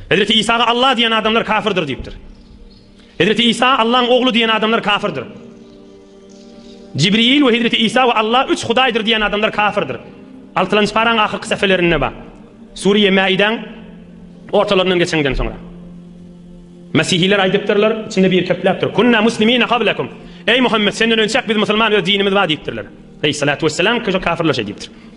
Hezreti Isaga Alla diýen adamlar kafirdir diýipdir. Hezreti Isa Allaň ogly diýen adamlar kafirdir. Jibril we Hezreti Isa we Alla üç hudaýdyr diýen adamlar kafirdir. Altylanjy paraň ahyrky säfelerinde bar. Suriýe Mäidaň ortalaryndan geçenden soňra. Mesihiler aýdypdyrlar, içinde biri kepläpdir. Kunna muslimina qablakum. Eý Muhammet, senden önçäk biz musulman öz dinimiz bar diýipdirler. Eý salatu wessalam, köşe kafirler şeý diýipdir.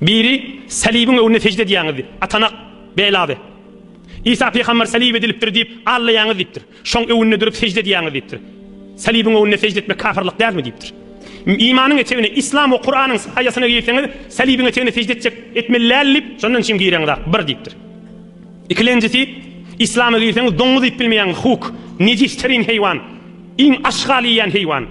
Biri, Salybyň öňünde sežde edýäňiz, atanak, belaby. Isa pygamber salyp edilipdir diýip, aglaýaňyz diýipdir. Şoň öňünde durup sežde edýäňiz diýipdir. Salybyň öňünde sežde etmek kafyrlyk dälmi diýipdir. Imanyň etegine, Islam we Kuranyň saýasyna girseňiz, salybyň etegine sežde etjek, etmeli däl diýip, şondan çim gireňizak, bir diýipdir. Ikilenjisi, Islama girseňiz doňuz iýip bilmeýäňiz, huk, nejis terin heýwan, iň aşgal iýýän heýwan.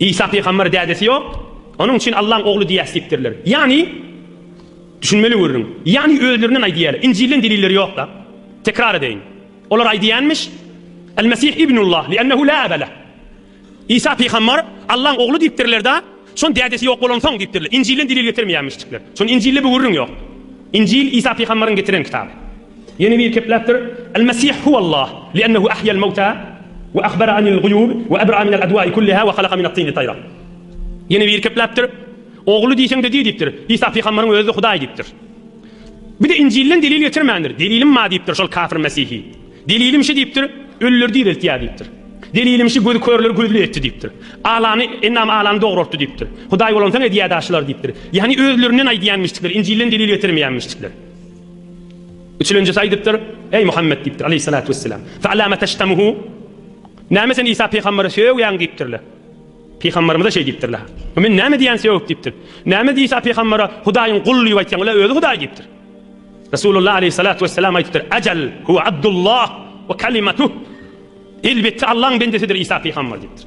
Isa pygamberi dädesi ýok, onuň üçin Allaň ogly diýýäs diýipdirler. Ýagny, düşünmeli görüň, ýagny özlerinden aýdýarlar, Injilden delilleri ýok-da. Tekrar edeýin. Olar aýdýanmyş, Al-Mesih ibnullah, li'ennehu la ebe leh. Isa pygamber Allaň ogly diýipdirler-de, şon dädesi ýok bolansoň diýipdirler. Injilden delil getirmeýänmişjikler. Şony Injilde bir gürrüň ýok. Injil Isa pygamberiň getiren kitaby. Ýene bir kepläpdir, Al-Mesih huwallah, li'ennehu ahya'l-mewta, we ahbara anil-guýub, we ebra minel adwa'i kulliha, we halaga minat-tini taýra. Ýene bir kepläpdir, Ogly diýseň-de diý diýipdir, Isa pygamberyň özi-de Hudaý diýipdir. Bir-de Injilden delil getirmändir, Delilim bar diýipdir şol kafir Mesihi. Delilim şu diýipdir, Ölüleri direltýär diýipdir. Delilim şu gözi körleri gözli etdi diýipdir. Alany, endam alany dograltdy diýipdir. Hudaý bolansoň edýä-dä şular diýipdir. Ýagny özlerinden aýdýanmişdikler, Injilden delil getirmeýänmişdikler. Üçülenjisi aýdypdyr, Eý Muhammet diýipdir, aleýhissalatu wesselam, Fe'lâme teştemuhu, Näme sen Isa pygamberi sögýäň diýipdirler. Pygamberimize şeý diýipdirler. Bu men näme diýýän sögüp diýipdir. Näme Isa pygambere Hudaýyň guly diýip aýtýaň, ol-a özi Hudaý diýipdir. Resulullah aleýhissalatu wesselam aýdypdyr, Ejel, huwa Abdullah we kalimetuh, Elbetde Allaň bendesidir Isa pygamber diýipdir.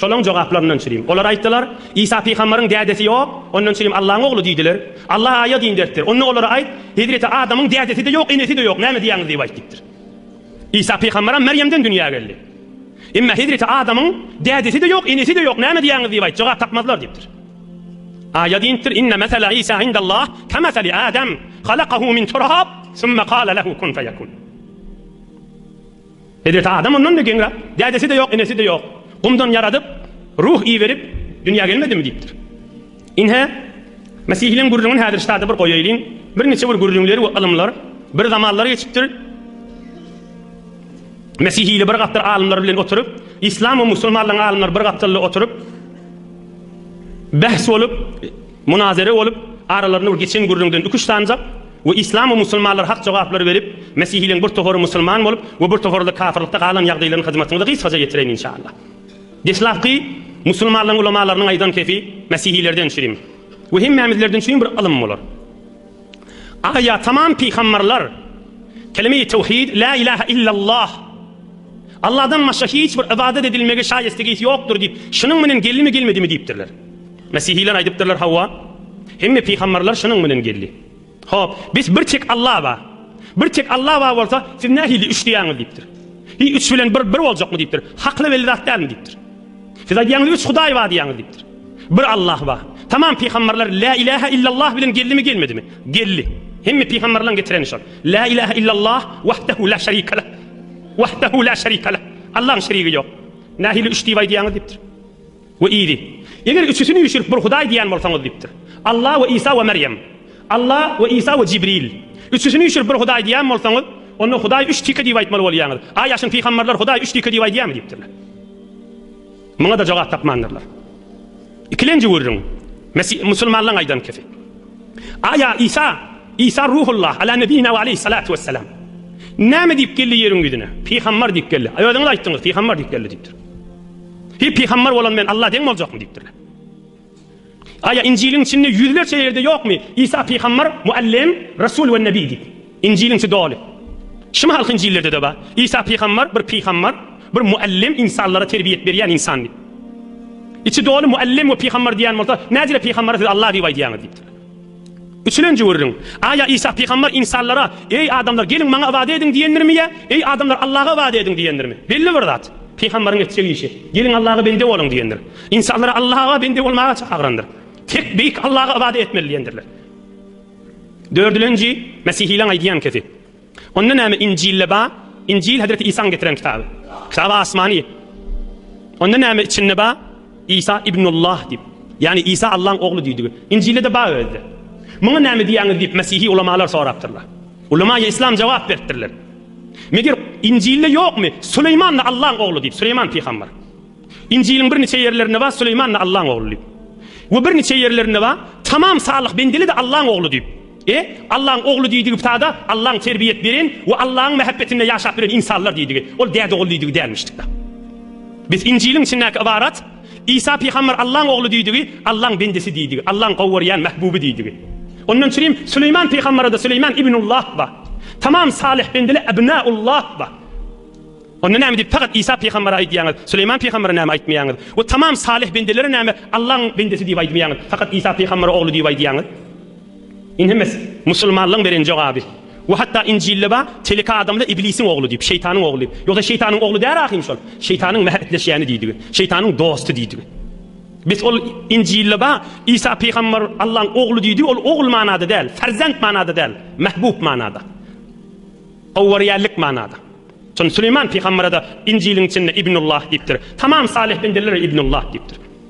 Şolaryň jogaplaryndan çyryň. Olar aýtdylar, Isa pygambaryň dädesi ýok, ondan çyryň Allahyň ogly diýdiler. Allah aýa din beripdir. Onda olara aýt, Hezreti Adamyň dädesi-de ýok, enesi-de ýok, näme diýýäňiz diýip aýt diýipdir. Isa pygambaram Merýemden dünýä geldi. Emma Hezreti Adamyň dädesi-de ýok, enesi-de ýok, näme diýýäňiz diýip aýt, jogap tapmazlar diýipdir. Aýa diýipdir, Inne mesele Isa indallah kemeseli Adam, halakahu min turap, summa kale lehu kun feyekun. Bezirti adam ondan-da geňräk, Dädesi-de ýok, enesi-de ýok. Gumdan ýaradyp, ruh iberip, dünýä gelmedimi? diýipdir. Ine, mesihleň gürrüňini häzir ştada bir goýaýlyň. Birniçe bir gürrüňler we ylymlar. Bir zamanlar geçipdir. Mesihili bir gapdal alymlar bilen oturyp, yslam we musulmanlaryň alymlary bir gapdalda oturyp, bäs bolup, Munazere bolup, aralarynda geçen gürrüňden iki-üç sanjak we yslam we musulmanlar hak jogaplary berip, mesihiligiň bir topary musulman bolup we bir topary-da kapyrlykda galan ýagdaýlaryny hyzmatyňyza gysgaça ýetireýin inşallah. Deslapky musulmanlaryň ulamalarynyň aýdan kepi mesihilerden çürim we hemmämizlerden çürim bir ylym bolar. Aýa tamam pygamberler kelime-i tewhid, la ilaha illallah, Allahdan başga hiç bir ybadat edilmege şaýestegis ýokdur diýip, şunuň bilen geldimi gelmedimi diýipdirler. Mesihiler aýdypdyrlar hawa, hemme pygamberler şunuň bilen geldi. Hop, bes bir tek Allah ba. Bir tek Allah ba bolsa, siz nähili üç diýýäňiz diýipdir. Hi üç bilen bir bir boljakmy diýipdir. Hakly belli zat dälmi diýipdir. Siz aýdýaňyz üç hudaý bar diýýäňiz diýipdir. Bir Allah bar. Tamam pygamberler la ilaha illallah bilen geldimi gelmedimi? Geldi. Hemme pygamberleriň getireni şol. La ilaha illallah wahdahu la şerike leh. Wahdahu la şerike leh. Allah'yň şerigi ýok. Nähili üç diýip aýdýaňyz diýipdir. We iydi. Eger üçüsini üýşürip bir hudaý diýýän bolsaňyz diýipdir. Allah we Isa we Meryem. Allah we Isa we Jibril. Üçüsini üýşürip bir hudaý diýýän bolsaňyz, onda hudaý üç tike diýip aýtmaly bolýaňyz. Aý aşyn pygamberler hudaý üç tike diýip aýdýamy diýipdirler. Muňa-da jogap tapmandyrlar. Ikilenji gürrüň, Mesih, musulmanlaryň aýdan kefi. A, ýa Isa, Isa Ruhullah, Ala nebiyina we aleyhi salatu wesselam. Näme diýip geldi ýeriň ýüzüne? Pygambar diýip geldi. Aý, özüňiz aýtdyňyz, pygambar diýip geldi diýipdir. Hi, pygambar bolan bilen Alla deň boljakmy diýipdirler. Aýa Injiliň içinde ýüzlerçe ýerde ýokmy Isa pygambar, muallym, rasul we nebi diýip? Injiliň içi doly. Şumy halky Injillerdede bar. Isa pygambar, bir pygambar, bir muallym, ynsanlara terbiýet berýän ynsan diýip. Içi doly muallym we pygambar diýýän bolsa, näcirä pygambara siz Allah diýip aýdýaňyz diýipdir. Üçülenji gürrüň. Aýa Isa pygamber ynsanlara, Eý, adamlar, geliň, Maňa ybadat ediň diýendirmi ýa, Eý, adamlar, Allaha ybadat ediň diýendirmi? Belli bir zat. Pygamberiň etjek işi, Geliň, Allaha bende boluň diýendir. Ynsanlary Allaha bende bolmaga çagrandyr. Tek beýik Allaha ybadat etmeli diýendirler. Dördülenji, Mesihileň aýdýan kesi. Onda näme Injilde bar? Injil Hezreti Isaň getiren kitaby. Kitaby asmany. Onda näme içinde bar? Isa Ibnullah diýip. Ýagny Isa Allaň ogly diýdigi. Injilde-de bar özde. Muňa näme diýýäňiz diýip mesihi ulamalar sorapdyrlar. Ulemaýy Islam jogap beripdirler. Meger Injilde ýokmy? Süleýman-da Allaň ogly diýip, Süleýman pygamber. Injiliň birniçe ýerlerinde bar Süleýman-da Allaň ogly diýip. We birniçe ýerlerinde bar Tamam salyh bendeli-de Allaň ogly diýip. E, Allaň ogly diýdigi sada Allaň terbiýet beren we Allaň mähebbetinde ýaşap bilen ynsanlar diýdigi, ol däde ogul diýdigi dälmişdikda. Biz Injiliň içindäki ybarat Isa pygamber Allaň ogly diýdigi, Allaň bendesi diýdigi, Allaň gowurýan mähbuby diýdigi. Ondan çürim Süleýman pygamberede Süleýman ibn Ullah ba. Tamam salyh bendele abna Ullah ba. Onda näme diýip fakat Isa pygambere aýdýaňyz, Süleýman pygambere näme aýtmaýaňyz we tamam salyh bendelere näme Allaň bendesi diýip aýdmaýaňyz, fakat Isa pygambere ogly diýip aýdýaňyz? Inhimiz, musulmanlygyň beren jogaby. We hatda Injilde bar, Telek adamla Iblisiň ogly diýip, şeýtanyň ogly. Ýogsa şeýtanyň ogly däl ahym şol. Şeýtanyň mähetleşýäni diýdigi. Şeýtanyň dosty diýdigi. Biz ol Injilde bar, Isa pygamber Allaň ogly diýdi, ol ogul manada däl, ferzent manada däl, mahbub manada. Gowgorýanlik manada. Şonda Süleýman pygamberede Injiliň içinde Ibnullah diýipdir. Tamam salyh bendeler Ibnullah diýipdir.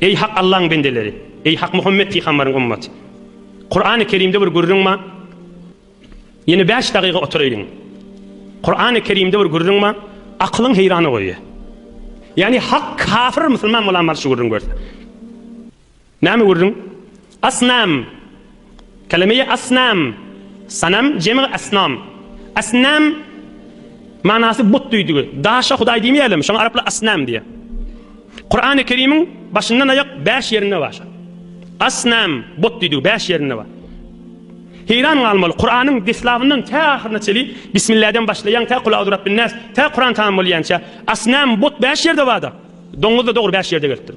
Eý Hak Allaň bendeleri! Eý Hak Muhammet pygambaryň ymmaty! Kurany Kerimde bir gürrüň bar. Ýene bäş dagyga oturaýyň. Kurany Kerimde bir gürrüň bar. Akylyň heýrana goýýar. Ýani Hak kafir musulman bolan bar şu gürrüň görse. Näme gürrüň? Asnam. Kelime-i asnam, sanam, jemi asnam. Asnam manasy but düýdügi. Daşa hudaý diýmeýärlermi, şoňa araplar asnam diýýär. Kurany Kerimiň başyndan aýak bäş ýerinde bar. Asnam, but düýdügi bäş ýerinde bar. Heýran galmaly, Kuranyň deslabyndan tä ahyryna çeli Bismilläden başlaýan tä Kul Auzurabbinnas, tä Kuran tamam bolýança asnam, but bäş ýerde bardyr. Doňuz-da dogry bäş ýerde gelipdir.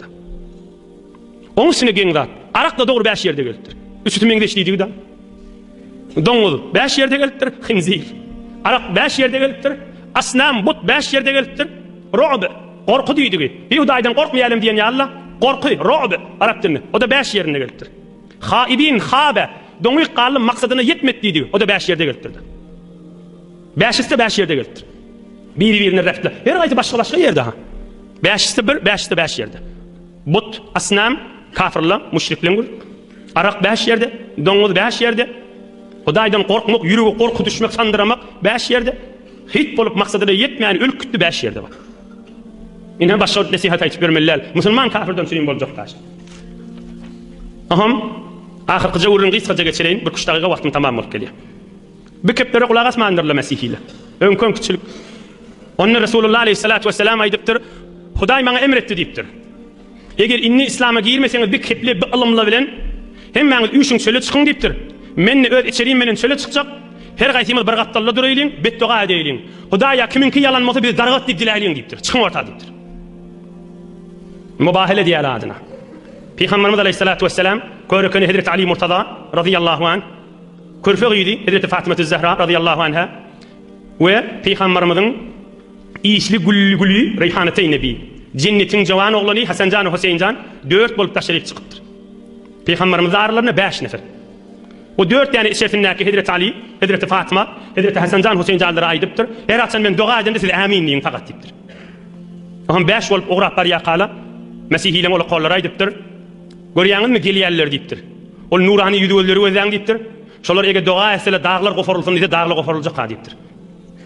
Oň üstüne geň zat. Arakda dogry bäş ýerde gelipdir. Üçüsi meňzeş diýjigi dal. Doňuz bäş ýerde gelipdir. Hinzir. Arak bäş ýerde gelipdir. Asnam but bäş ýerde gelipdir. Ro'b gorky diýdigi. Bir hudaýdan gorkmaýalem diýen ýalyla gorky ro'b arap dilinde. O-da bäş ýerinde gelipdir. Haibin habe doňýk galdy maksadyna ýetmedi diýdigi. O-da bäş ýerde gelipdir. Bäşisi bäş ýerde gelipdir. Biri-birine repli. Her gaýsy başga-başga ýerde ha. Bäşisi bir, bäşisi bäş ýerde. But, asnam, kafirler, müşrikleň gül. Arak bäş ýerde, doňuz bäş ýerde. Hudaýdan gorkmak, ýürege gorky düşmek, sandyramak bäş ýerde. Hyt bolup maksadyna ýetmän ölüp gitdi bäş ýerde bak. Ine başga nesihat aýtyp ýörmeli däl. Musulman kafirden süýüm boljak daş. Aham, ahyrkyja gürrüň gysgaja geçireýin, bir küç dagyga wagtym tamam bolup gelýär. Bu keplere gulak asmandyrlar mesihiler. Öňki öňkiçilik. Onda Resulullah aleýhissalat wessalam aýdypdyr, Hudaý maňa emr etdi diýipdir. Eger indi islama girmeseňiz bi kepli bi ylymly bilen hemmäňiz üýşüň çöle çykyň diýipdir. Mende öz içerim bilen çöle çykjak. Her gaýsymyz bir gapdalda duraýlyň, betdoga edäýliň. Hudaýa kimiňki ýalan bolsa biz dargat diýip diläýliň diýipdir. Çykyň orta diýipdir. Mubahala edýäler adyna. Pygamberimiz aleýhissalat wessalam, Körekeni Hezreti Ali Murtaza, razyýallahu anh, Körpe gyzy Hezreti Fatymatüz Zähra razyýallahu anha we Pygambarymyzyň işli gülli güli Reýhanateýn nebi, Jennetiň jowan oglany Hasanjan we Hoseýinjan dört bolup taşryp çykypdyr. Pygambarymyz aralarynda bäş nefer. O dört däne içersindäki Hezreti Aly, Hezreti Fatyma, Hezreti Hasanjan Hoseýinjanlara aýdypdyr, Her haçan men doga edemde siz Ämin diýiň pagat diýipdir. Oňa bäş bolup ugrap barýarkala Mesihileň ola kollary aýdypdyr, Görýäňizmi, gelýärler diýipdir. Ol nurany ýüzi gözleri gözläň diýipdir. Şolar eger doga etseler, daglar goparylsyn diýse, daglar goparyljak-ha diýipdir.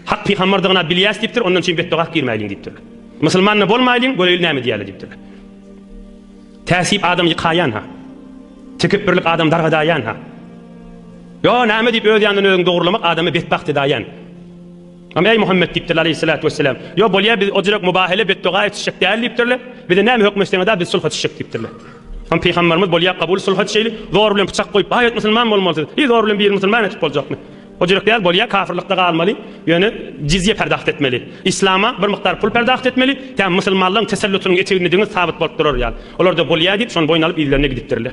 Hak pygamberdigini-ä bilýäs diýipdir, ondan çyn betdoga-ak girmäýliň diýipdirler. Musulman-da bolmaýlyň, göreýli näme diýýärler diýipdirler. Täsip adam ýykaýan-ha. Tekepbirlik adamy dargadaýan-ha. Ýo, näme diýip öz ýanyndan özüňi dogrulamak adamy betbagt edäýen. Onda, Eý Muhammet! diýipdirler, aleýhissalatu wessalam, Ýo, bolýa, biz o jürek mubahala, betdogä etişjek däl diýipdirler. Bize näme höküm etseňiz-ä, biz sulha çyşjak diýipdirler. Onda, pygamberimiz, Bolýa, kabul, sulha çyşaýly, zor bilen pyçak goýup, baý et, musulman bolmaly siz. Hiý, zor bilen biri musulman etip boljakmy? O jürek däl, bolýa, kafyrlykda galmaly, ýöne jizýe perdagt etmeli. Yslama bir mukdar pul perdagt etmeli, tä musulmanlaryň tesellutynyň eteginde deňiz sabyt bolup durar ýaly. Olar-da, Bolýa diýip, şony boýun alyp, yzlerine gidipdirler.